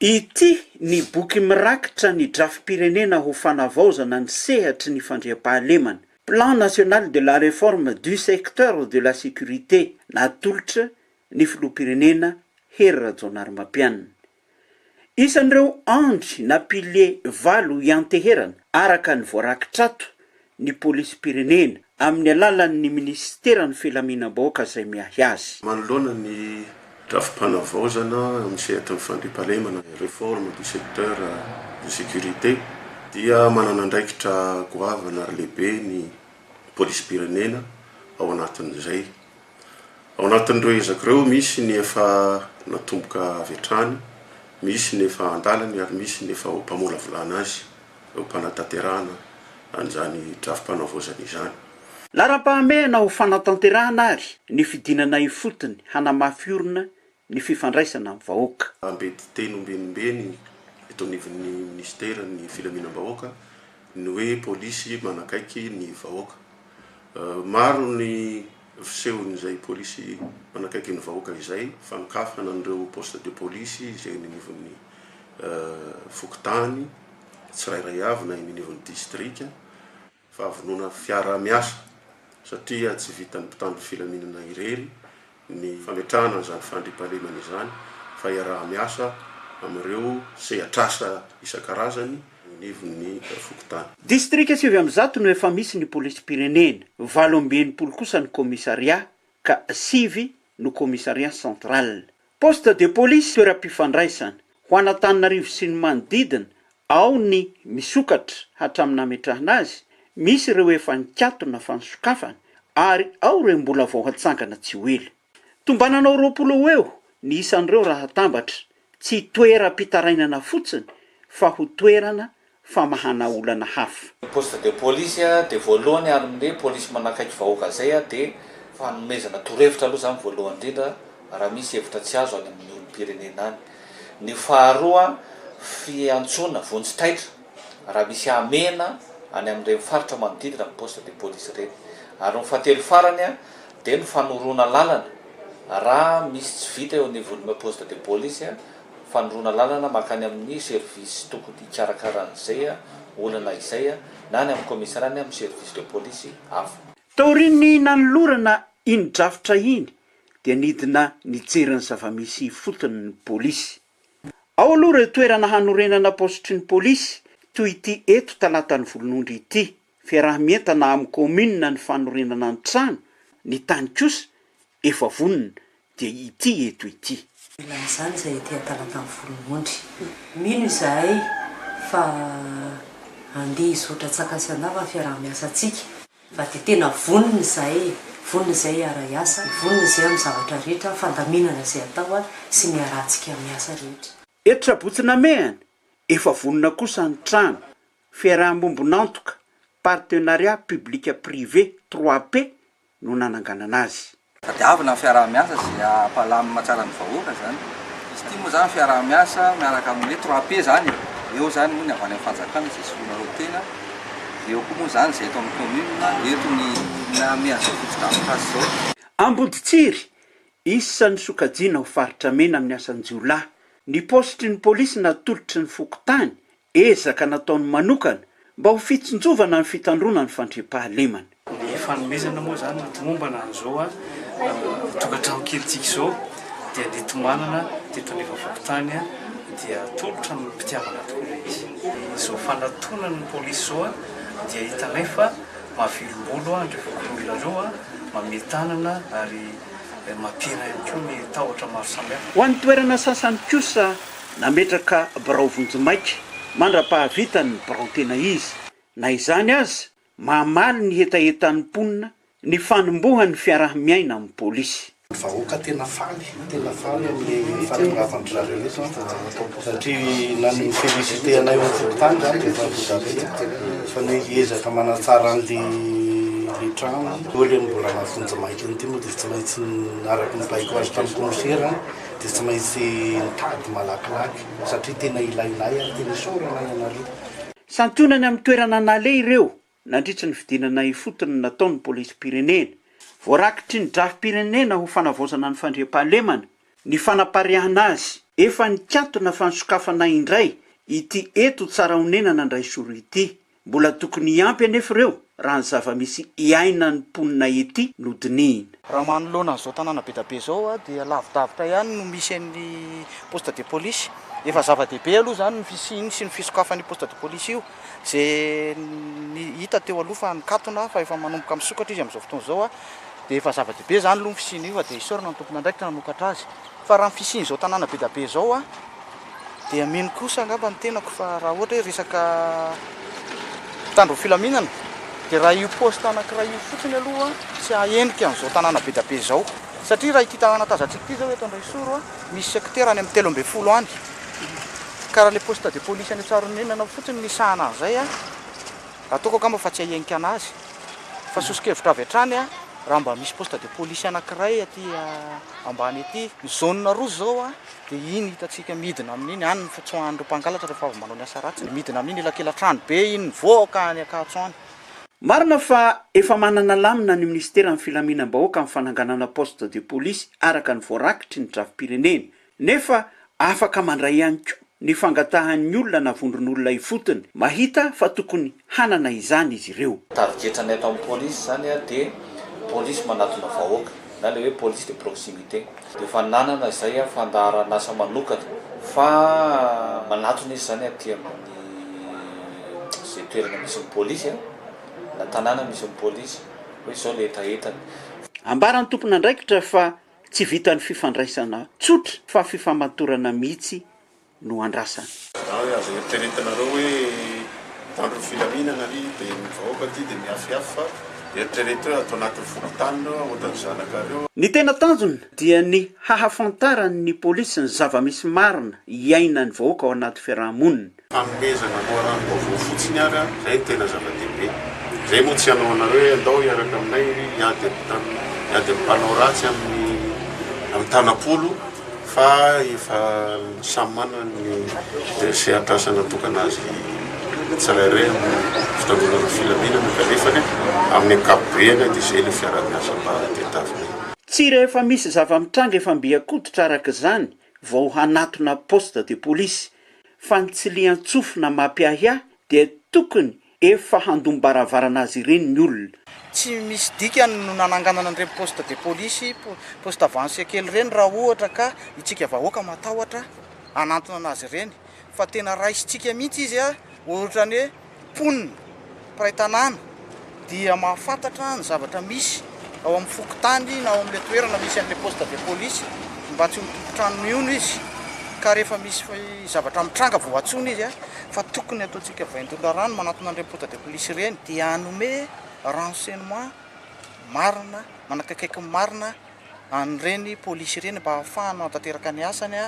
Ity ny boky mirakitra ny drafi-pirenena ho fanavaozana ny sehatry ny fandriampahalemana, Plan national de la réforme du secteur de la sécurité natolotra ny filoham-pirenena Hery Rajaonarimampianina. Isan'ireo andry na piliers valo ianteherana araka ny voarakitr'ato ny polisim-pirenena amin'ny alalan'ny minisiteran'ny Filaminam-bahoaka izay miahy azy. Manoloana ny drafi-panavaozana amin'ny sehatry ny fandriampahalemana, réforme du secteur de sécurité, dia manana andraikitra goavana ary lehibe ny polisim-pirenena ao anatin'izay. Ao anatin'ireo ezaka ireo, misy ny efa natomboka avy hatrany, misy ny efa an-dalany ary misy ny efa ho mpamolavolana azy. eo am-panatanterahana an'izany drafi-panavaozana izany. Laharam-pahamehana ho fanatanterahana àry ny fidinana ifotony hanamafy orina ny fifandraisana amin'ny vahoaka. Ampiady teny ombenimbeny eto anivon'ny minisiteran'ny Filaminam-bahoaka ny hoe Polisy manakaiky ny vahoaka. Maro ny. Fisehon'izay polisy manakaiky ny vahoaka izay fanokafana an'ireo poste de police izay eny anivon'ny fokontany tsirairay avy na eny anivon'ny distrika fahavonona fiaraha-miasa satria tsy vitan'ny mpitandro filaminana irery ny fametrahana an'izany fandriampahalemana izany fa iaraha-miasa amin'ireo sehatr'asa isan-karazany eo anivon'ny fokontany. Distrika sivy amby zato no efa misy ny polisim-pirenena, valo amby enimpolo kosa ny commissariat ka sivy no commissariat central. Poste de police, toeram-pifandraisana, ho an'Antananarivo sy ny manodidina, ao ny misokatra hatramin'ny nametrahana azy, misy ireo efa nikatona fa ny sokafana ary ao ireo mbola vao hatsangana tsy ho ela. Tombananao roapolo ho eo ny isan'ireo raha atambatra, tsy toeram-pitarainana fotsiny fa ho toerana famahana olana hafa. Ny poste de police dia voalohany ary ny polisy manakaiky vahoaka izay dia fanomezana torohevitra aloha izany voalohany indrindra raha misy hevitra tsy azo any amin'ny olom-pirenena any. Ny faharoa fiantsoana vonjy taitra raha misy hamehana any amin'ireny faritra manodidina ny poste de police ireny. Ary ny fahatelo farany Dia ny fanoroana lalana, raha misy tsy vita eo anivon'ny poste de police, fanoroana lalana mankany amin'ny service tokony hikarakara an'izay olana izay na any amin'ny commissariat na amin'ny service de police hafa. Taorian'ny nanolorana iny drafitra iny dia nidina nijery ny zava-misy ifotony ny polisy. Ao aloha ireo toerana hanorenana paositry ny polisy toy ity eto Talatan'ny Volonondry ity. Fiaraha-mientana amin'ny kaominina ny fanorenana ny trano, ny tany kosa efa vonona dia ity eto ity. Ilay izany izay ety an-talantan'ny Volonondry. Mino izahay fa handeha hizotra tsy an-kasan'afa ny fiaraha-miasantsika fa dia tena vonona izahay e! Vonona izahay hiara-hiasa, vonona izahay amin'ny zavatra rehetra fandaminana izay atao sy ny iarahantsika miasa rehetra. Eto Sabotsy Namehana, efa vonona kosa ny trano Fiarahamombon'antoka, Partenariat Public-Privé, 3P, no nananganana azy. Tadiavina ny fiaraha-miasa sy hampalamina tsara ny vahoaka izany. Izy ity moa izany fiaraha-miasa miaraka amin'ny hoe 3P izany e. Eo izany moa ny avy any amin'ny fanjakana izay soloinareo tena, dia eo koa moa izany izay eto amin'ny kaominina, eto ny olona mian'izao fotodrafitrasa izao. Amboditsiry, Isan'ny sokajiana ho faritra mena amin'ny asan-jiolahy. Ny paositry ny polisy natolotry ny fokontany Ezaka nataony manokana mba ho fitsinjovana ny fitandroana ny fandriampahalemana. Ny fanomezana moa izany no tomombana amin'izao tokantrano kelintsika izao dia netomanana teto anivon'ny fokontany dia atolotra ny mpitiavana tokoa ilay izy. Izao fanatonan'ny polisy izao dia hitanay fa mahavelombolo an ireo fokonolona ireo, mamehy tanana ary mampihena ihany koa ny tahotra maro samihafa. Ho an'ny toerana sasany kosa Nametraka birao vonjimaika mandra-pahavitan' ny birao tena izy. Na izany aza, mamaly ny hetahetan' ny mponina ny fanombohan' ny fiaraha-miaina amin' ny pôlisy. Vahoaka tena faly tena faly amin'ny fahatongavan-dry zareo eto an, satria na ny mi-feliciter anay eo an-tokotany izany dia efa voatabia fa ny hoe hiezaka manatsara an'ilay trano, eo ilay mbola maha vonjimaika an'ity moa dia efa tsy maintsy araka ny baiko azo tamin'ny kaomisera, Dia tsy maintsy nitady malakilaky satria tena ilainay ary tena isaorana ianareo. Santionany amin'ny toerana naleha ireo nandritry ny fidinana ifotony nataon'ny polisim-pirenena. Voarakitry ny drafi-pirenena ho fanavaozana ny fandriampahalemana ny fanapariahana azy. Efa nikatona fa nisokafana indray ity eto Tsarahonenana Andraisoro ity. Mbola tokony hiampy anefa ireo raha ny zava-misy iainan'ny mponina ety no dinihina. Raha manoloana an'izao tanàna be dia be izao dia lavidavitra ihany no misy an'ny poste de police. Efa zava-dehibe aloha izany ny fisiany sy ny fisokafan'io poste de police io izay hita teo aloha fa nikatona fa efa manomboka misokatra izy amin'izao fotoana izao dia efa zava-dehibe izany aloha ny fisian'io fa dia isaorana ny tompon'andraikitra nanokatra azy. Fa raha ny fisian'izao tanàna be dia be izao dia mino kosa angamba ny tenako fa raha ohatra hoe resaka mpitandro ny filaminana dia raha io poste anankiray io fotsiny aloha tsy hahenika an'izao tanàna be dia be izao satria raha ity tanàna tazantsika ity izao eto Andraisoro misy sekitera any amin'ny telo ambin'ny folo any ka raha ilay poste de police any Tsaroninina fotsiny misahana an'izay ataoko angamba fa tsy hahenika an'azy. Fa soso-kevitra avy hatrany aho raha mba misy poste de police anankiray aty ambany aty. Ny zone roa zao dia iny hitantsika midina amin'iny any ny fitsoahan'ireo mpangalatra rehefa avy manao ny asa ratsiny dia midina amin'iny elakelan-trano be iny mivoaka any Ankatso any. Marina fa efa manana lamina ny minisiteran'ny filaminam-bahoaka amin'ny fananganana poste de police araka ny voarakitry ny drafi-pirenena Nefa afaka mandray ihany koa ny fangatahan'ny olona na vondron'olona ifotony mahita fa tokony hanana izany izy ireo. Tarigetranay ato amin'ny polisy izany dia polisy manatona vahoaka na ilay hoe police de proximité. Dia efa nanana izay fandaharan'asa manokana fa manatona izy izany aty amin'ny izay toerana misy ny polisy na tanàna misy ny polisy hoe izao ilay hetahetany. Ambaran'ny tompon'andraikitra fa Tsy vitan'ny fifandraisana tsotra fa fifamatorana mihitsy no andrasana. Raha azo eritreretinareo hoe mpitandro ny filaminana ary dia ny vahoaka aty dia mihafihafy fa eritrereto hoe ato anatin'ny fokontany ireo aotan'ny zanakareo. Ny tena tanjona dia ny hahafantaran'ny polisy ny zava-misy marina iainan'ny vahoaka ao anaty fiaraha-monina. Fanomezana loharanom-baovao fotsiny ary an, izay no tena zava-dehibe. Izay moa tsy hanao anareo hoe andao hiaraka aminay iry hiady amin'ny tany, hiady amin'ny mpanao ratsy amin'ny amin'ny tanam-polo fa efa samy manana ny sehatr'asa natokana azy tsirairay amin'ny fitangonana filaminana kanefa anie amin'ny ankapobeany an dia izay ilay fiaraha-miasa mba tadiavinay. Tsy rehefa misy zava-mitranga efa mby an-koditra araka izany vao hanatona poste de police, fa ny tsilian-tsofina mampiahiahy dia tokony efa handom-baravarana azy ireny ny olona. Tsy misy dikany no nananganana an'ireny poste de police, poste avancé kely ireny raha ohatra ka itsika vahoaka matahotra hanantona an'azy ireny, fa tena raisintsika mihitsy izy ohatrany hoe. Mponina, mpiray tanàna dia mahafantatra ny zavatra misy ao amin'ny fokontany na ao amin'ilay toerana misy an'ilay poste de police mba tsy ho tompon-trano mihono izy ka rehefa misy zavatra mitranga vao antsoina izy fa tokony ataontsika vain-doha rano manatona an'ireny poste de police ireny dia hanome renseignement marina manakaikaiky ny marina an'ireny polisy ireny mba hahafahany manatanteraka ny asany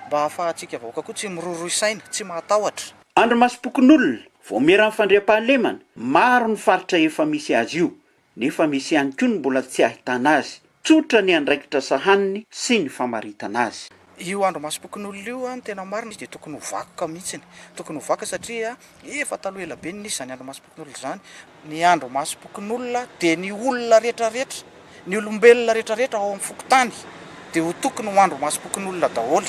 mba hahafahantsika vahoaka koa tsy miroroy saina, tsy mahatahotra. Andry Masom-pokonolona, Vaomieran'ny fandriampahalemana, maro ny faritra efa misy azy io, nefa misy ihany koa ny mbola tsy ahitana azy. Tsotra ny andraikitra sahaniny sy ny famaritana azy. Io Andry Masom-pokonolona io, ny tena marina, izy dia tokony ho vakoka mihitsy. Tokony ho vakoka satria efa taloha ela be no nisy izany Andry Masom-pokonolona izany. Ny andro masom-pokonolona dia ny olona rehetrarehetra, ny olombelona rehetrarehetra ao amin'ny fokontany dia ho tokony ho andro masom-pokonolona daholo.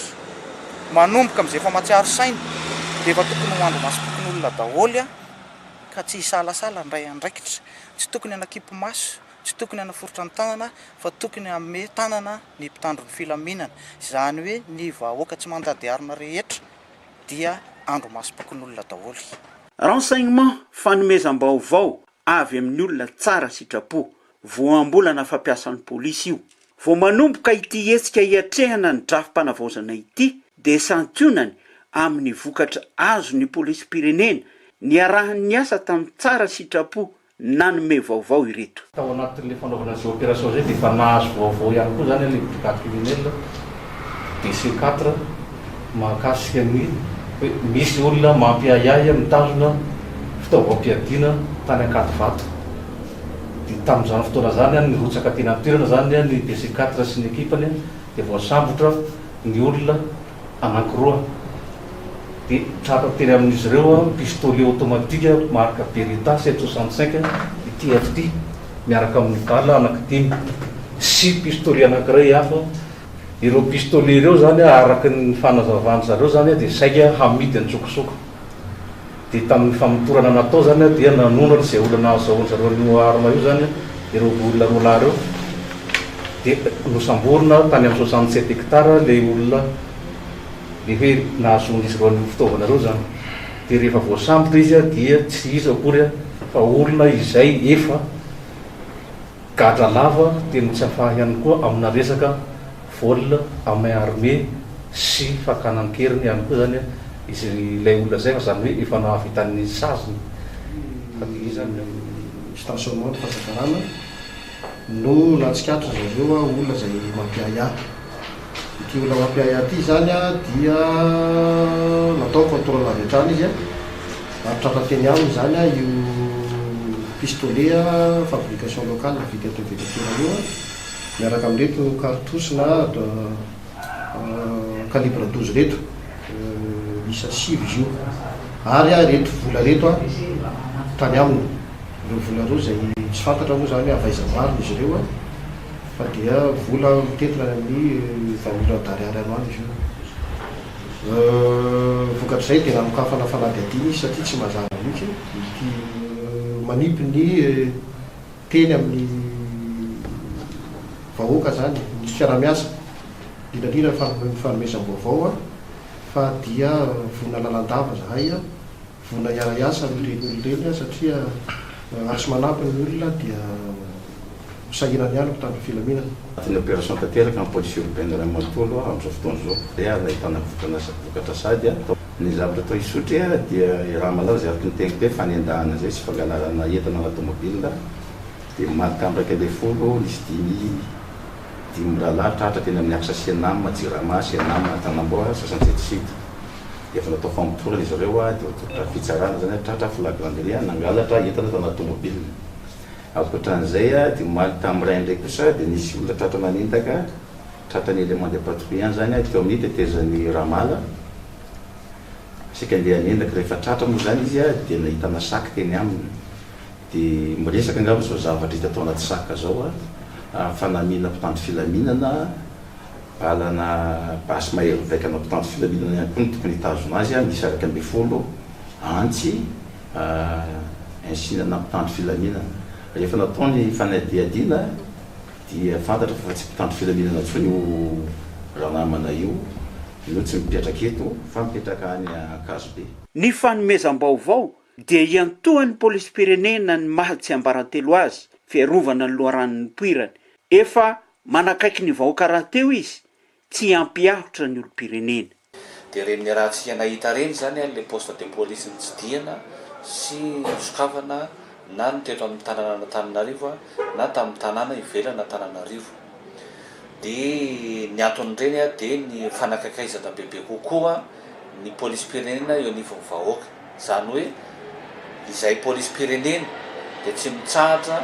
Manomboka amin'izay efa mahatsiaro saina dia efa tokony ho andro masom-pokonolona daholo ka tsy hisalasala handray andraikitra. Tsy tokony hanakipy maso, tsy tokony hanaforitra ny tanana fa tokony hanome tanana ny mpitandro ny filaminana. Izany hoe ny vahoaka tsy mandady harona rehetra dia andro masom-pokonolona daholo. Renseignements, Fanomezam-baovao avy amin'ny olona tsara sitrapo, voambolana fampiasan'ny polisy io. Vao manomboka ity hetsika hiatrehana ny drafi-panavaozana ity dia santionany amin'ny vokatra azon'ny polisim-pirenena niarahany niasa tamin'ny tsara sitrapo nanome vaovao ireto. Tao anatin'ilay fanaovana izay opération izay dia efa nahazo vaovao ihany koa izany ilay brigade criminelle, DC quatre, mahakasika ny hoe misy olona mampiahiahy mitazona fitaovam-piadiana tany Ankadivato. Dia tamin'izany fotoana izany nirotsaka teny an-toerana izany ny DC quatre sy ny ekipany dia voasambotra ny olona anankiroa, dia tratra tery amin'izy ireo pistolet automatique marque Beretta sept cent soixante cinq TFT miaraka amin'ny balles anankidimy sy pistolet anankiray hafa. Ireo pistolet ireo izany araka ny fanazavan-dry zareo izany dia saika hamidy an-tsokosoko. dia tamin'ny famotorana natao izany dia nanondrana izay olona nahazahoan-dry zareo an'io arme io izany ireo olona roa lahy ireo dia nosamborina tany amin'ny soixante sept hectares ilay olona le hoe nahazoan'izy ireo an'io fitaovana ireo izany dia rehefa voasambotra izy dia tsy iza akory fa olona izay efa Gadra lava teny tsy afaha ihany koa amina resaka vol à main armé sy fakana an-keriny ihany koa izany izy ilay olona izay fa izany hoe efa nahavita ny saziny fa dia iza no Stationnement Pazakarana no nahatsikaritra zareo olona izay mampiahiahy. Ity olona mampiahiahy ity izany dia natao contrôle avy hatrany izy ary tratra teny aminy izany io pistolet fabrication locale vita eto Betetera io miaraka amin'ireto cartouches na calibre douze ireto miisa sivy izy io ary ireto vola ireto tany aminy, ireo vola ireo izay tsy fantatra moa izany avy aiza marina izy ireo. Fa dia vola mitentina any amin'ny vaholan'i Ariary androany izy io. Vokatr'izay dia nanokafana fanadihadiana izy satria tsy mazava mihitsy ity manipy ny teny amin'ny vahoaka izany ny fiaraha-miasa, indrindra indrindra ny fanomezam-baovao fa dia vonona lalandava izahay. Vola hiara-hiasa amin'ireny olona ireny aho satria raha tsy manampy ny olona dia ho sahirana ihany ny mpitandro filaminana. Anatin'ny opération tanteraka amin'ny police urbaine iray manontolo aho amin'izao fotoana izao. Dia aza ahitana vokana vokatra sady a. Ny zavatra atao Isotry a dia i Ramalala izay araka ny teniko teo fanendahana izay sy fangalarana entana na tomobila dia marika amraka ambin'ny folo nisy dimy dimy mirahalahy tratra teny amin'ny axe Cenam, Jirama, Cenam, Antanamboa, Antsasanjety Sud. dia efa natao famotorana izy ireo dia voatolotra fitsarana izany ary tratra flagrant-delit ary nangalatra entana tao anaty tomobilina. Ankoatran'izay dia omaly tamin'ny iray indray kosa dia nisy olona tratra nanendaka tratran'ny élément de patrouille ihany izany ary teo amin'ny tetezan'i Ramala saika andeha hanendaka. Rehefa tratra moa izany izy dia nahitana sac teny aminy dia miresaka angamba izao zavatra hita tao anaty sac izao fa namiana mpitandro filaminana Lalana basy mahery mivaika anao mpitandro filaminana ihany koa no tokony hitazona azy, miisa iraika ambin'ny folo antsy insinana mpitandro filaminana. Rehefa natao ny fanadihadiana dia fantatra fa tsy mpitandro filaminana intsony io ranamana io no tsy mipetraka eto fa mipetraka any Ankazobe. Ny fanomezam-baovao dia iantohan'ny polisim-pirenena ny maha tsiambarantelo azy, fiarovana ny loharanon'ny nipoirany. Efa manakaiky ny vahoaka rahateo izy tsy hampiahotra ny olompirenena. Dia reny le raha tsy hia nahita reny zany an le poste de police nitsidihana sy nosokafana na ny teto aminy tanana an'Antananarivo an na taminy tanàna ivelan Antananarivo de ny antony reny an de ny fanakaikaizana bebe kokoa ny polisim-pirenena eo anivon'ny vahoaka. Izany hoe izay polisim-pirenena dia tsy mitsahatra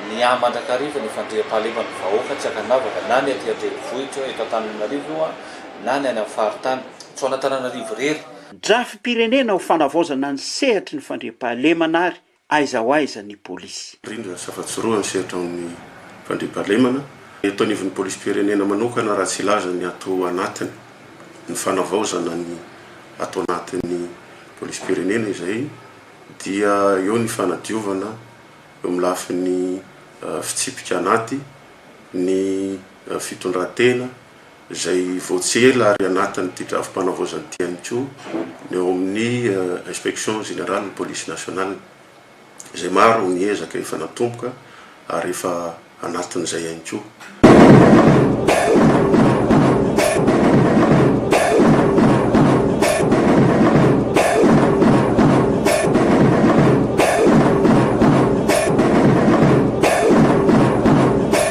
miahy mandrakariva ny fandriampahalemana ny vahoaka, tsy ankanavaka, na ny aty an-drenivohitra, eto Antananarivo io an, na ny any amin'ny faritany. Tsy ho an'Antananarivo irery. Drafi-pirenena ho fanavaozana ny sehatry ny fandriampahalemana ary Aiza ho aiza ny polisy? Rindrina sy afa-tsoroha ny sehatra ao amin'ny fandriampahalemana. Eto anivon'ny polisim-pirenena manokana raha tsy hilaza ny ato anatiny, ny fanavaozana ny ato anatin'ny polisim-pirenena izay dia eo ny fanadiovana eo amin'ny lafiny fitsipika anaty, ny fitondran-tena, izay vao tsy ela ary anatin'ity drafi-panavaozana ity ihany koa ny ao amin'ny Inspection Générale Police Nationale, izay maro ny ezaka efa natomboka ary efa anatin'izay ihany koa.